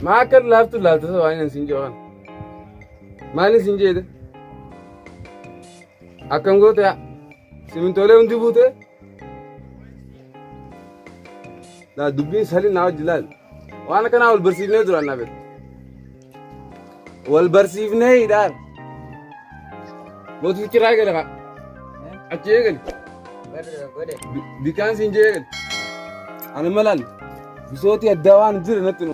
Maa akka laaftu laaftu ta'u waan isin jedhan. Maal isin jedhe? Akkam goote yaa? Simintoolee hundi buute. Laa dubbiin salii naa wajji laal. Waan akkanaa wal barsiifnee turan na beektu. Wal barsiifnee hidhaan. Mootii kiraa eegale kaa. Achi eegale. Bikaan siin jee eegale. Ani malaan bisootii addaa waan jira natti nu.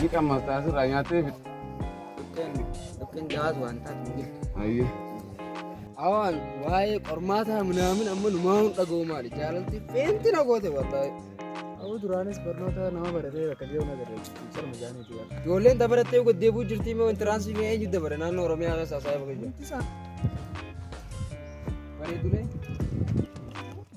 Ni qammasta asirraa nyaattee fixxe. Dhukkeen dhukkeen jawaas waan taatu hin jirtu. Ayyee. Awaan waa'ee qormaataa minaamin amma numaa hin dhaga'u maali jaalalti feenti na goote wallahi. Abu duraanis barnoota nama baratee bakka jiru na garee sarma jaanii jiru. Ijoolleen dabarattee goddee buu jirtii moo intiraansii mee eenyu dabare naannoo Oromiyaa keessa haasa'aa bakka jiru. Bareedulee.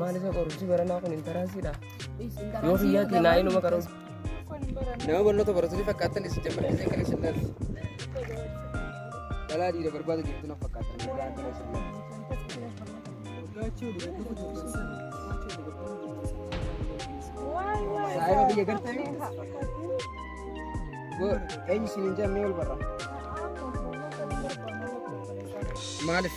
Maal isa qorumsi baranaa kun intaraansiidha? Yoo kiyyaatti naa inuma qaruun. Nama barnoota baratu ni fakkaatan isin jammaa isin kan isin laatu. Dhalaa dhiira barbaada jirtu na fakkaatan. Dhalaa kan isin laatu. Saayima biyya gartee mi? Go eenyu isin hin jammee ol barra. Maaliif?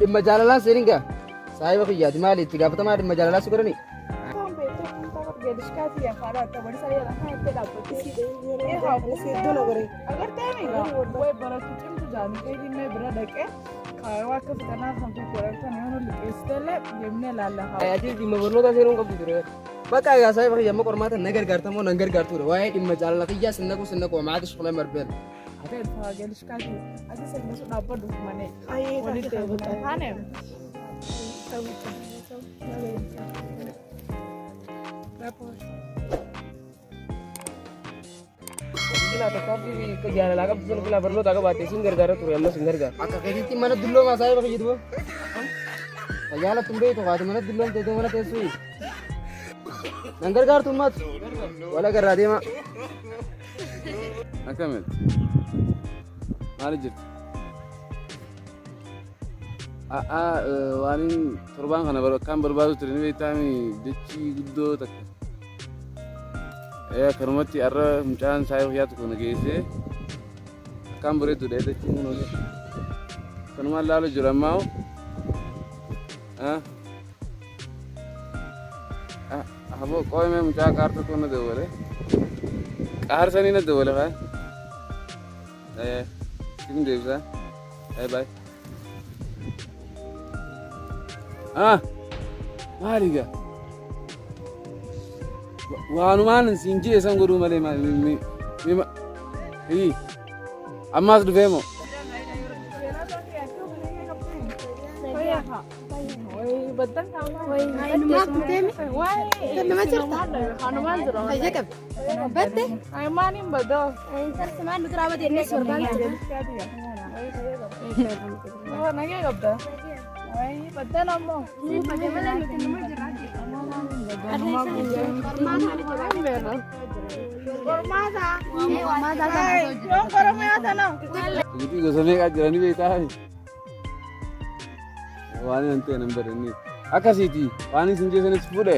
dhimma jaalalaa seenin gaa saahiba kiyyaati maali itti gaafatamaa dhimma jaalalaa si godhani Atii dhimma barnootaa seenuun qabdu ture. Bakka egaa isaa bakka yamma qormaata na gargaarta moo nan gargaartudha. Waa'ee dhimma jaalala kiyyaa sinna kun sinna koo maati shukula marbeen. Ayee taate kan godhaa. jaalalaa qabdu sana filaa barnootaa qabaatte isin gargaara ture ammas hin gargaara. Akka keessatti mana dulloo maasaa yoo fayyadu boo. Fayyaa lafti hin beektu kaatu mana dulloon teessoo mana teessuu. Nan gargaartu ummatu. Wala garraa deemaa. Akkamitti? Maali jirti? A'a waanin torbaan kana bar- akkaan barbaadu ture ni beektaami dachii guddoo takka. Ee, Akkanumatti har'a mucaan saayii fayyaa tokko na geessee akkaan bareeddudha ee, dachiin kun hojii. Akkanumaan laalu jira ammaa hoo. Ah. Ah, Aboo qoomee mucaa qaar tokko na dawwale. Qaar sanii na dawwale kaan. Eh, sifin deebisa. Bye bye. Ah, maali gaa? Wa- Waanumaan siin jee san godhuu malee maali? mi- mi- mi- ma- Ii, ammaas dhufee moo? Itti gosa meeqaa jiranii beektaa? Waan hin ta'e nan badanne. Akkasiiti waan isin jeessanis fuudhe.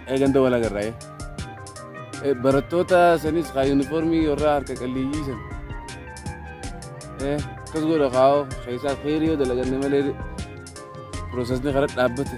Eeganta wal agarraa'e. Barattoota sanis kaa yuunifoormii warra harka qalleeyyii san. Akkas godha kaa'oo keessaa feerii yoo dalaganne malee piroosesni karaa dhaabbate.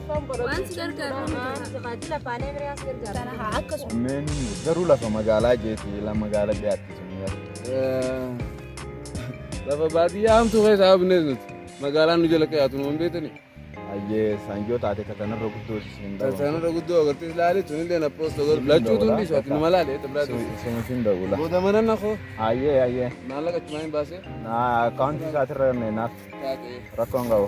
Waan si gargaaru tajaajila afaan Amaaraa si gargaara. Akkasuma. Meen garuu lafa magaalaa jeeti lafa magaalaa dhiyaatti sun Lafa baadiyyaa hamtuu keessa haabnees nuti. Magaalaan nu jala qe'aatu nu hin beekani. Ayyee saanjoo taate katanarra guddoo siin dhabu. Sanarra guddoo agartee laali tunillee na poosta godhu. Lachuutu hundi isaati nu malaale tabraati. Sumutiin dawula. Booda mana na koo Ayyee ayyee. maallaqa achumaan hin baasee. Akkaawuntii isaatirra naaf Taatee. rakkoon qabu.